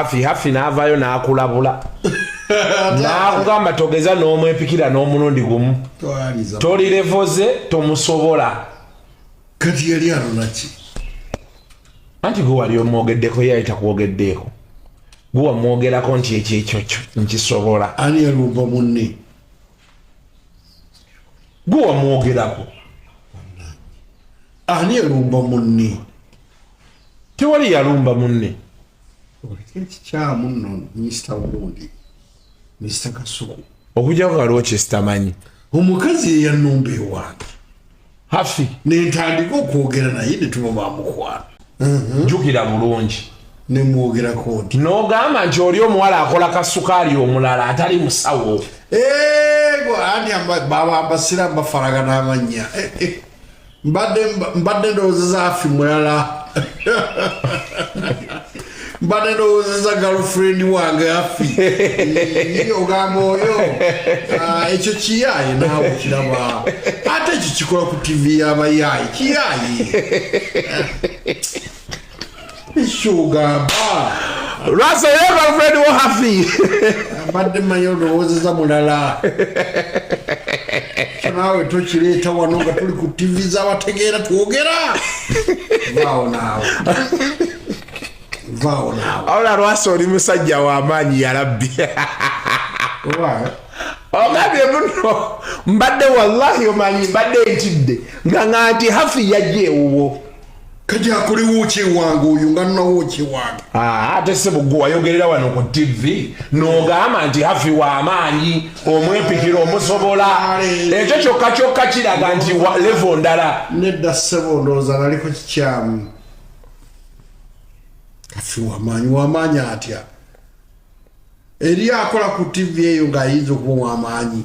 hafi hafi n'avaayo n'akulabula n'akugamba togeza n'omwepikira n'omulundi gumu tolirevoze tomusobola kati yali alonaki anti gwe wali omwogeddeko ye ayita kwogeddeeko gwe wamwogerako nti ekyo ekyokyo nkisobola ani yalumba munne gwe wamwogerako ani yalumba munne tewali yalumba munne ekikyamu nno minisita wundi minisita kasuku okujjako waliwo kyesitamanyi omukazi yeyanumba ewange hafi nentandika okwogera naye netuba bamukwano mhm. jukira bulungi nemwogerako nti nogamba nti oli omuwala akola kasukaali omulala atali musawo ego ani babambasira mbafaragana amannya eh, eh. mbadde ndowozeza afi mulala mbadde ndowozeza galfriend wange afi ogamba oyo ah, ekyo kiyaye naawe kiraba ate ekyo kikola ku tivi yabayaye kiyaye mbadde manyi olowoozeza mulala naawe tokireeta wano nga tuli ku tivi zabategeera twogera vaawo naawe vaawo naawe awula lwasa oli musajja w'amaanyi yarabbi ogambye muno mbadde wallahi omanyi mbadde ntidde nga nga nti hafi yajja ewuwo kati akolewo kyewange oyo nga nawo kyewange ah, ate sebugwe wayogerera wano ku tivi nogamba nti hafi wamaanyi omwepikira omusobola ekyo kyokka kyokka kiraga nti levo ndala nedda sebo ndowooza naliko kikyamu hafi wamaanyi wamaanyi atya eri akola ku tivi eyo ng'ayinza okuba wamaanyi